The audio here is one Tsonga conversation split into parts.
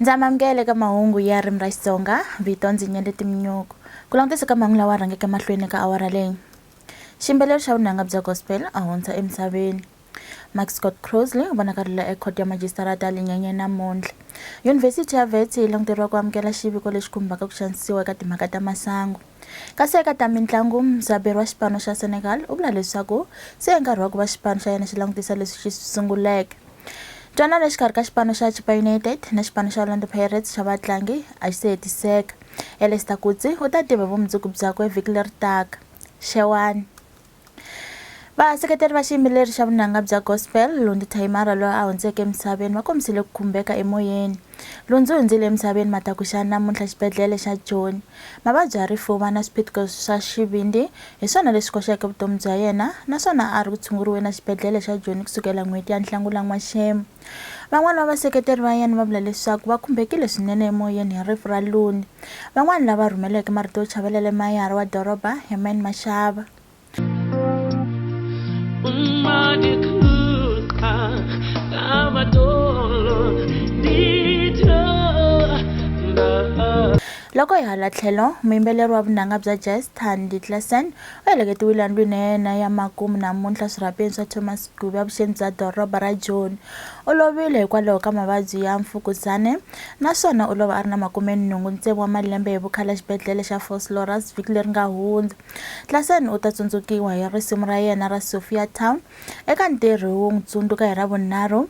ndza mamukele ka mahungu ya rimi ra xitsonga vito ndzi nyele timinyoko ku langutisa ka mahungu lawa rhangeke mahlweni ka awara leyi ximbeleri xa vunanga bya gospel a hundza emisaveni Max Scott Crossley u vonakarila eKhoto ya Majisitarata ya le Nyenyeni namuntlha. Yunivhesiti ya Wits yi languteriwa ku amukela xiviko lexi khumbaka ku xanisiwa eka timhaka ta masangu. Kasi eka ta mintlangu, mudzaberi wa xipano xa Senegal u vula leswaku se i nkarhi wa ku va xipano xa yena xi langutisa leswi xi swi sunguleke. Ntwanano exikarhi ka xipano xa Chippa United na xipano xa Orlando Pirates xa vatlangi a xi se hetiseka. Elester Coetzee u ta tiva hi vumundzuku byakwe vhiki leri taka. Xewani. Vaseketeri va xiyimbeleri xa vunanga bya gospel Lundi Thayimara loyi a hundzeke emisaveni va kombisile ku khumbeka emoyeni. Lundzi hundzile emisaveni matakuxana namuntlha xibedhlele xa Joni. Mavabyi ya rifuva na swiphiqo swa xivindzi hi swona leswi koxeke vutomi bya yena naswona a ri ku tshunguriweni exibedhlele xa Joni kusukela n'hweti ya Nhlangula-N'waxemu. Van'wana va vaseketeri va yena va vula leswaku va khumbekile swinene emoyeni hi rifu ra Luni. Van'wana lava rhumeleke marito yo chavelela i mayara wa doroba Herman Mashaba. Loko hi hala tlhelo, muyimbeleri wa vunanga bya jazz Thandi Klaasen Va heleketiwile endlwini ya yena ya makumu namuntlha swirhapeni swa Thomas Gube evuxeni bya doroba ra Joni. U lovile hikwalaho ka mavabyi ya mfukuzane naswona u lova a ri na makumenhungu ntsevu wa malembe hi vukhale exibedhlele xa Vosloorus vhiki leri nga hundza. Klassen u ta tsundzukiwa hi risimu ra yena ra Sophiatown eka ntirho wo n'wi tsundzuka hi Ravunharhu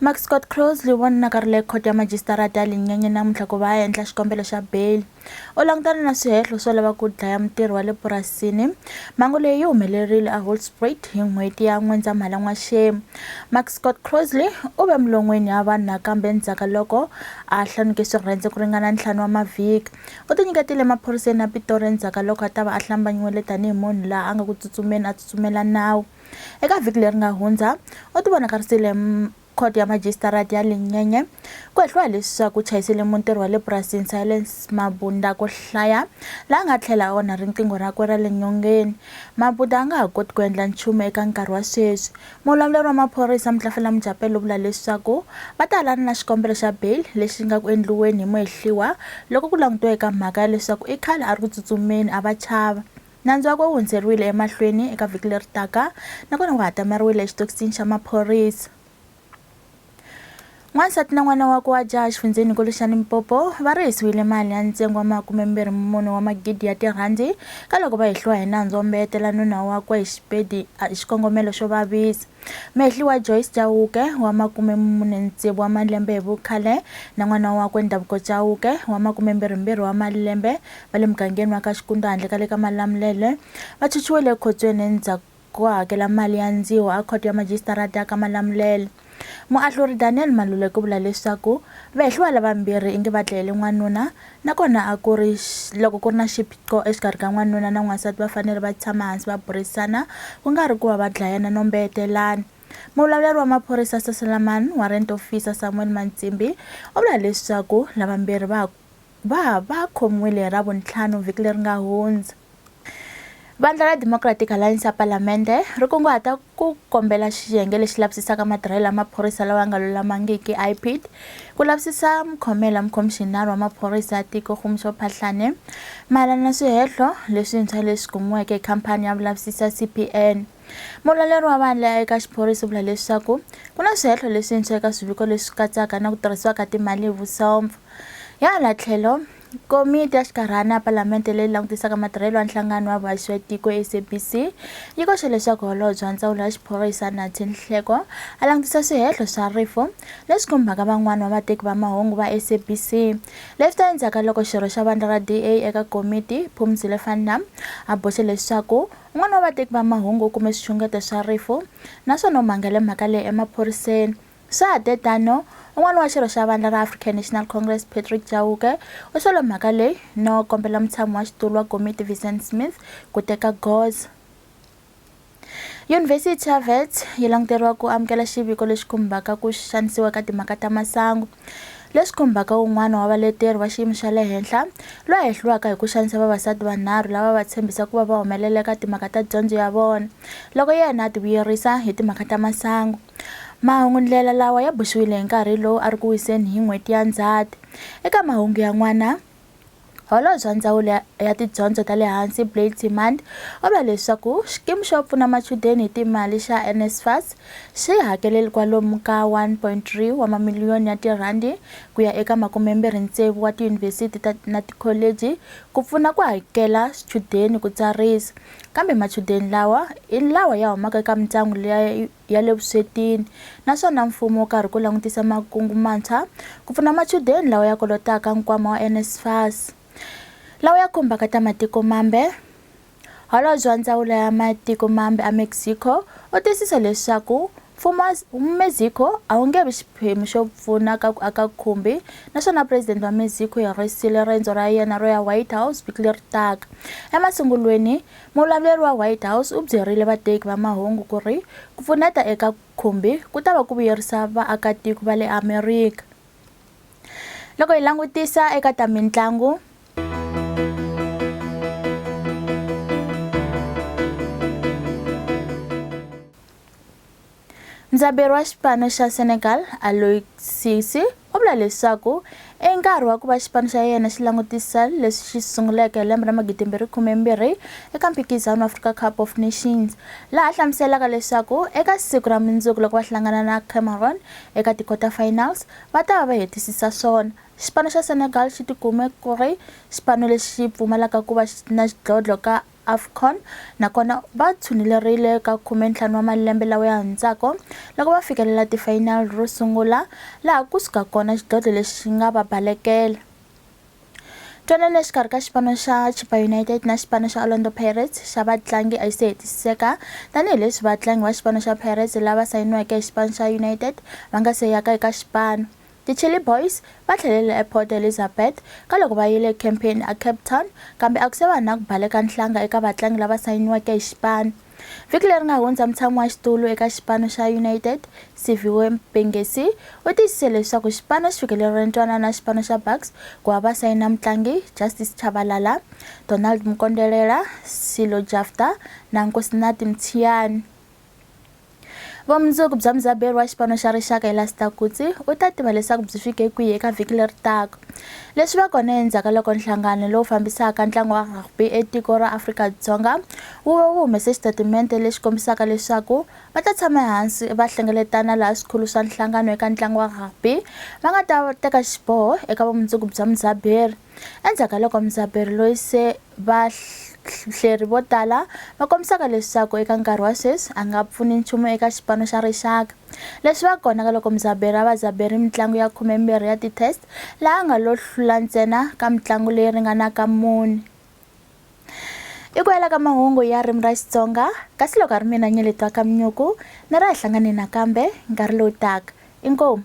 Mark Scott Crosley wa nakarhele khoto ya majisitarata ya Linyenye namuntlha ku va a endla xikombelo xa beyili. U langutane na swihehlo swo lava ku dlaya mutirhi wa le purasini. Mhangu leyi yi humelerile eHolspruit hi n'hweti ya N'wendzamhala n'waxemu. Mark Scott Crosley u ve mulon'weni ya vanhu nakambe endzhaku ka loko a hlanuke swirhendze ku ringana ntlhanu wa mavhiki. U tinyiketile emaphoriseni ya Pitori endzhaku ka loko a ta va a hlambanyiwile tanihi munhu laha a nga ku tsutsumeni a tsutsumela nawu. Eka vhiki leri nga hundza, u tivonakarisile Khoto ya Majisitarati ya Linyenye ku hehliwa leswaku chayisele muntirho wa le purasini Silence Mabunda ku hlaya la nga tlhela onha riqingho rakwe ra le nyongeni. Mabunda a nga ha koti ku endla nchumu eka nkarhi wa sweswi. Muvulavuri wa maphorisa Mutlafela Mujapelo u vula leswaku va ta alana na xikombelo xa bail lexi nga ku endliweni hi Muhehliwa loko ku langutiwa eka mhaka ya leswaku i khale a ri ku tsutsumeni a va chava. Nandzu wakwe wu hundzeriwile emahlweni eka vhiki leri taka nakona wu hatameriwile exitokisini xa maphorisa. N'wansati na n'wana wakwe wa jaha exifundzheni-nkulu xa Limpopo va rihisiwile mali ya ntsengo wa makumembirhi mune wa magidi ya tirhandi ka loko va hehliwa hi nandzu wo mbeyetela nuna wakwe hi xipedi hi xikongomelo xo vavisa. Mehliwa Joyce Chauke wa makume mune ni tsevu wa malembe hi vukhale na n'wana wakwe Ndhavuko Chauke wa makume mbirhi mbirhi wa malembe va le mugangeni wa ka Xikundwa handle ka le ka Malamulele va chuchiwele ekhotsweni endzhaku ko hakela mali ya ndziho a khoto ya majisitarata ya ka Malamulele. Muahluri Daniel Maluleke u vula leswaku vehliwa lavambirhi ingi va dlayele n'wanuna Na kona a ku ri, loko ku ri na xiphiqo exikarhi ka n'wanuna na n'wansati va fanele va tshama hansi va burisana, ku nga ri ku va va dlayana no mbeyetelana. Muvulavuleri wa maphorisa Sasalaman, Warrant Officer Samuel Mantsimbi, u vula leswaku lavambirhi va va va khomiwile hi Ravuntlhanu vhiki leri nga hundza. Vandla ra Democratic Alliance ya Palamende ri kunguhata ku kombela xiyenge lexi lavisisaka matirhelo ya maphorisa lawa ya nga lulamangiki IPID ku lavisisa mukhomela mukhomixinari wa maphorisa ya tiko Kgomosho Phahlane mayelana na swihehlo leswintshwa leswi kumiweke hi khampani ya vulavisisi ya CPN. Mulweri wa vandla ya eka xiphorisa u vula leswaku ku na swihehlo leswintshwa eka swiviko leswi katsaka na ku tirhisiwa ka timali hi vusomfa. Hi hala tlhelo Komiti ya Xinkarhana ya Palamende leyi langutisaka matirhelo ya Nhlangano wa Vaxwetiko, SABC, yi koxe leswaku Holobye wa Ndzawulo ya Xiphorisa, Nathi Nhleko, a langutisa swihehlo swa rifu leswi khumbaka van'wana va vateki va mahungu va SABC. Leswi ta endzhaku ka loko xirho xa vandla ra DA eka komiti, Phumzile van Nam, a boxe leswaku un'wana wa vateki va mahungu u kume swixungeto swa rifu naswona u mangele mhaka leyi emaphoriseni. Swa ha te tano, un'wana wa xirho xa vandla ra African National Congress Patrick Chauke u solo mhaka leyi no kombela mutshami wa xitulu wa komiti Vincent Smith ku teka goza. Yunivhesiti ya Wits yi languteriwa ku amukela xiviko lexi khumbaka ku xanisiwa ka timhaka ta masangu, leswi khumbaka un'wana wa valeteri va xiyimo xa le henhla loyi a hehliwaka hi ku xanisa vavasati vanharhu lava va tshembisa ku va va humelela eka timhaka ta dyondzo ya vona loko yena a tivuyerisa hi timhaka ta masangu. Mahungu-ndlela lawa ya boxiwile hi nkarhi lowu a ri ku wiseni hi n'hweti ya Ndzhati. Eka mahungu yan'wana, Holobye wa Ndzawulo ya Tidyondzo ta le Hansi Blade Nzimande u vula leswaku Xikimi xo Pfuna Machudeni hi Timali xa NSFAS xi hakelele kwalomu ka 1.3 wa mamiliyoni ya tirhandi ku ya eka makumembirhi ntsevu wa tiyunivhesiti na tikholeji ku pfuna ku hakela swichudeni ku tsarisa kambe machudeni lawa i lawa ya humaka eka mindyangu leyi ya le vuswetini naswona mfumo wu karhi ku langutisa makungu mantshwa ku pfuna machudeni lawa ya kolotaka nkwama wa NSFAS lawa ya khumbaka ta matiko mambe holobye wa ndzawulo ya matiko mambe a Mexico u tiyisisa leswaku mfumo wa Mexico a wu nge vi xiphemu xo pfuna ka ku aka khumbi naswona president wa Mexico hi risile rendzo ra yena ro ya White House vhiki leri taka emasungulweni Muvulavuri wa White House u byerile vateki va mahungu ku ri ku pfuneta eka khumbi ku ta va ku vuyerisa vaakatiko va le Amerika. Loko hi langutisa eka ta mintlangu, Mudzaberi wa xipano xa Senegal, Aliou Cisse, u vula leswaku i nkarhi wa ku va xipano xa yena xi langutisa leswi xi sunguleke hi lembe ra magidimbirhi khumembirhi eka mphikizano wa Africa Cup of Nations, laha hlamuselaka leswaku eka siku ra mundzuku loko va hlangana na Cameroon eka ti-quarter finals va ta va va hetisisa swona. Xipano xa Senegal xi tikume ku ri xipano lexi pfumalaka ku va na xidlodlo ka Afcon, nakona va tshunelerile ka khume-ntlhanu wa malembe lawa ya hundzaka loko va fikelela tifayinali ro sungula laha ku suka kona xidlodlo lexi xi nga va balekela. Ntwanano exikarhi ka xipano xa Chippa United na xipano xa Orlando Pirates xa vatlangi a yi se hetisiseka tanihileswi vatlangi va xipano xa Pirates lava sayiniweke hi xipano xa United va nga se yaka eka xipano Ti Chilli Boys va tlhelele ePort Elizabeth ka loko va yile campaign a Cape Town kambe a ku se va na ku baleka nhlanga eka vatlangi lava sayiniweke hi xipano. Vhiki leri nga hundza mutshami wa xitulu eka xipano xa United, Siviwe Mpengesi u tiyisise leswaku xipano xi fikelerile ntwanano na xipano xa Bucks ku va va sayina mutlangi Justice Chabalala, Donald Mukondelela, Silo Jafta na Nkosinati Mtshiyani. Vumundzuku bya mudzaberi wa xipano xa rixaka Elaster Coetzee u ta tiva leswaku byi fike kwihi eka vhiki leri taka. Leswi va kona endzhaku ka loko nhlangano lowu fambisaka ntlangu wa rugby etiko ra Afrika-Dzonga wu ve wu humese xitatimende lexi kombisaka leswaku va ta tshama ehansi va hlengeletana laha swikhulu swa nhlangano eka ntlangu wa rugby va nga ta teka xiboho eka vumundzuku bya mudzaberi Endzhaku ka loko Mzaberi loyi se va hleri vo tala va kombisaka leswaku eka nkarhi wa sweswi a nga pfuni nchumu eka xipano xa rixaka leswi va kona ka loko muzaberi a va zaberi mitlangu ya khumembirhi ya ti-test laha a nga lo hlula ntsena ka mitlangu leyi ringanaka muni i ku hela ka mahungu ya rimi ra xitsonga kasi loko a ri mina nyeletwa ka minyuku ni ra hi hlangane nakambe nkarhi lowu taka inkomu